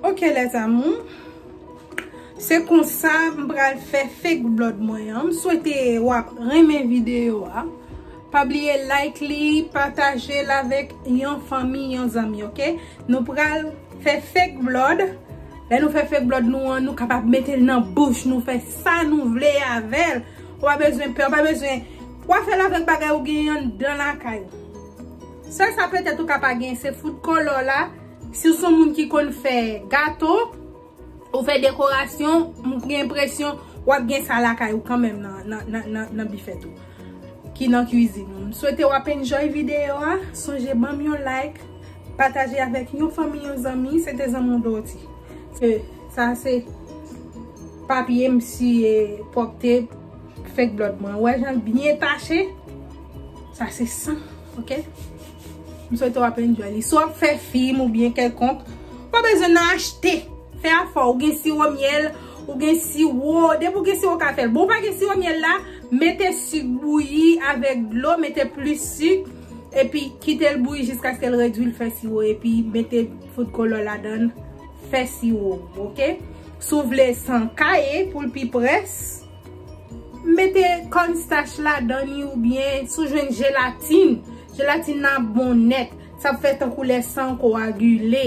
Ok les amours Se konsa m pral fè fake blood mwen an. M swete wap renmen video a. Pa bliye like li, pataje l avèk yon fanmi, yon zanmi ok. Nou pral fè fake blood. Lè nou fè fake blood nou an, nou kapab mete l nan bouch nou fè sa nou vle avè l. Ou pa bezwen pè, ou pa bezwen. Wap fè l avèk bagay ou gen anndan lakay ou. Sèl sa petèt ou ka pa gen se fout kòlò la, si w son moun ki konn fè gato, ou fè dekorasyon, m gen enpresyon wap gen sa lakay ou kanmenm nan bifèt ou, ki nan kwizin ou. M swete wap enjoy videyo a, sonje banm yon like, pataje avèk yon fanmi, yon zanmi, se te Zanmou Dorty. Sa se papye m siye pwòpte fek blòd mwen, ou wè jan l byen tache? Sa se san, ok? M swete w ap enjoy li. Si w ap fè fim ou byen kèlkonk, ou pa bezwen nan achte. Fè afè w. Ou gen siwo myèl, ou gen siwo. Depi w gen siwo w ka fè l. Bon ou pa gen siwo myèl la, mete sik bouyi avèk dlo, mete plis sik. Epi kite l bouyi jiskaske l redwi l fè siwo. Epi mete fout kolo ladan l, fè siwo w, ok? Si w vle san ka ye pou l pi près. Mete corn starch ladan ni ou byen si w jwenn jelatine. Jelatine nan ap bon nèt. Sa ap fè tankou lè san w kowagile.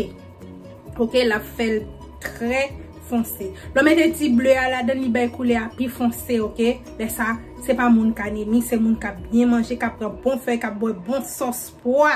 Ok l ap fè l trè fonse. Lè w mete ti ble a ladan li bay koulè a pi fonse ok. Lè sa se pa moun k anemi se moun k ap byen manje k ap pran bon fèy k ap bwè bon sòs pwa.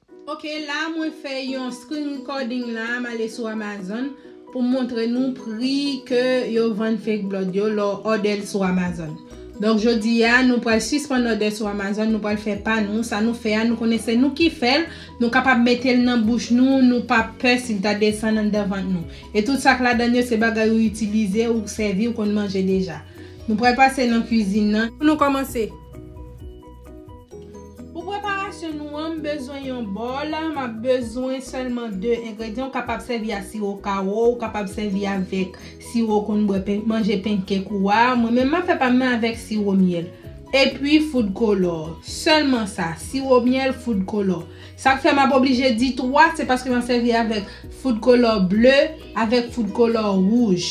Ok la mwen fè yon screen recording la m ale sou Amazon pou m montre nou pri ke yo vann fake blood yo lè w òdè l sou Amazon donk jodi a nou pral sispann òdè sou Amazon nou pral fè pa nou sa nou fè a nou konnen se nou ki fè l nou kapab mete l nan bouch nou nou pa pè si l ta desann anndan vant nou e tout sa k ladann yo se bagay ou itilize ou sèvi ou konn manje deja nou pral pase nan kwizin nan pou nou kòmanse. Pou preparasyon nou an, m bezwen yon bòl, m ap bezwen sèlman 2 engredyan, ou kapab sèvi a siwo kawo, ou kapab sèvi avèk siwo ou konn bwè pen, manje pancake ou a, mwen menm m ap fè pa m nan avèk siwo myèl, epi food color, sèlman sa, siwo myèl, food color. Sa k fè m ap oblije di 3, se paske m ap sèvi avèk food color ble, avèk food color wouj.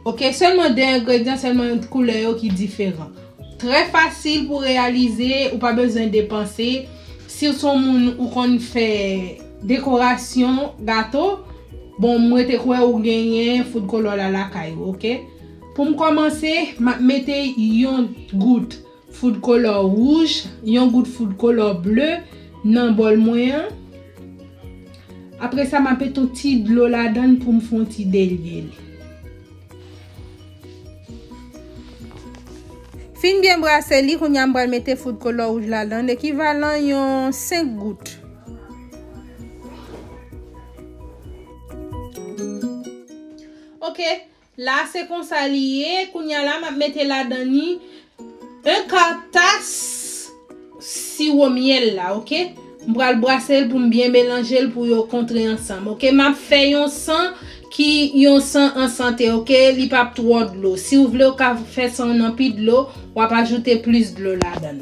Ok selman 2 engredyan selman ant koulè yo ki diferan trè fasil pou reyalize ou pa bezwen depanse siw son moun ou konn fè dekorasyon gato bon m rete kwè ou genyen food color la lakay ou ok poum kòmanse map mete yon gout Foud kolò wouj, yon gout foud kolò ble nan bòl mwen an. Apresa m ape ton ti dlo ladan l pou m fon ti delye li. Fin byen brase li, kounya m pral mete foud kolò wouj ladan l, ekivalan yon 5 gout. Ok, La se konsa li ye, kounya la map mete ladan ni 1 ka tas siwo myèl la ok, m pral brasel poum byen melanjel pou yo kontre ansanm ok, map fè yon san ki yon san an sante ok, li pap twò dlo, siw vle ou ka fè sanw nan pi dlo, wap ajoute plis dlo ladan.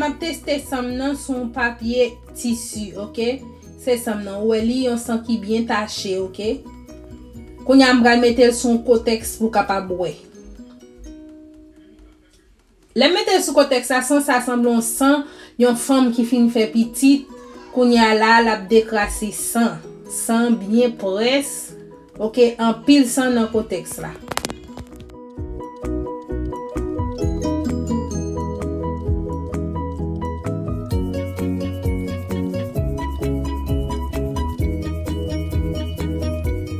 Map teste san m nan sou yon papye tisi ok se san m nan ou wè li yon san ki byen tache ok kounya m pral metel sou yon kotèks pou kapab wè. Lè m mete l sou kontèks la, san sa sanble on san yon fanm ki fin fè pitit, kounye a la a l ap dekrase san. San byen près, ok, anpil san nan kontèks la.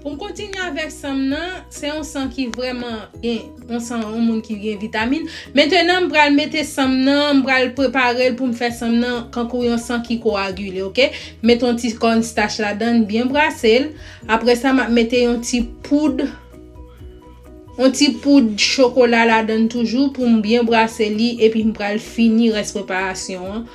Pou m kontinye avèk san m nan, se yon san ki vrèman gen, yon san yon moun ki gen vitamin. Mentenan m pral mete san m nan, m pral prepare l pou m fè san m nan kankou yon san ki kowagile ok. M mete yon ti corn starch ladan l, m byen brase l. Apre sa m ap mete yon ti poud, yon ti poud chokola ladan l toujou pou m byen brase li epi m pral fini rès preparasyon an.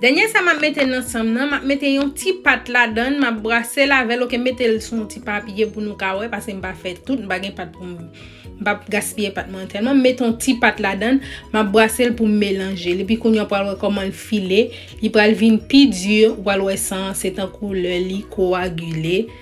Dènye sa map mete nan sam nan, map mete yon ti pat ladann, map brase l avèl ok, mete l sou yon ti papye pou nou ka wè, pase m pa fè tout, m pa gen pat pou m, m pap gaspiye pat mwen tèlman, m mete yon ti pat ladann, map brase l pou m melanje l, epi kounye w pral wè kòman l file, li pral vin pi di, ou pral wè san an se tankou lè li kowagile.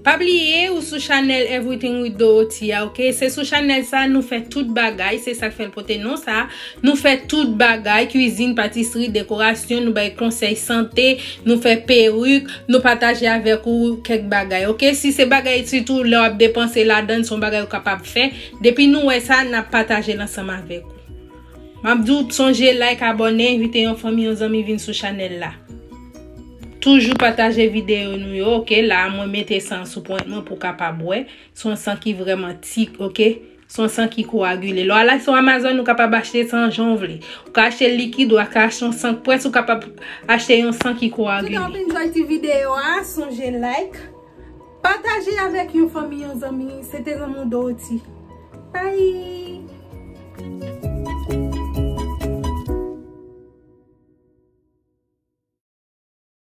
Pa bliye ou sou chanèl Everything with Dorothea ok, se sou chanèl sa nou fè tout bagay, se sak fèl pote non sa, nou fè tout bagay, kwizin, patisri, dekorasyon, nou bay konsèy sante, nou fè peruk, nou pataje avèk ou kèk bagay ok, si se bagay sitou lè wap depanse ladann son bagay ou kapab fè, depi nou wè sa nap patajel ansanm avèk ou. Map diw sonje like abòne envite yon fanmi yon zanmi vin sou chanèl la toujou pataje videyo nou yo ok la a mwen mete san sou pwent mwen pou kapab wè son san ki vrèman ti ok son san ki koagile lè w al sou amazon ou kapab achte san jan w vle ou ka achte likid ou ka achte yon san k pwès ou kapab achte yon san ki koagile. Tout an wap enjoy ti videyo a sonje like. Pataje avèk yon fanmi yon zanmi se te lanmou Dorothy bye.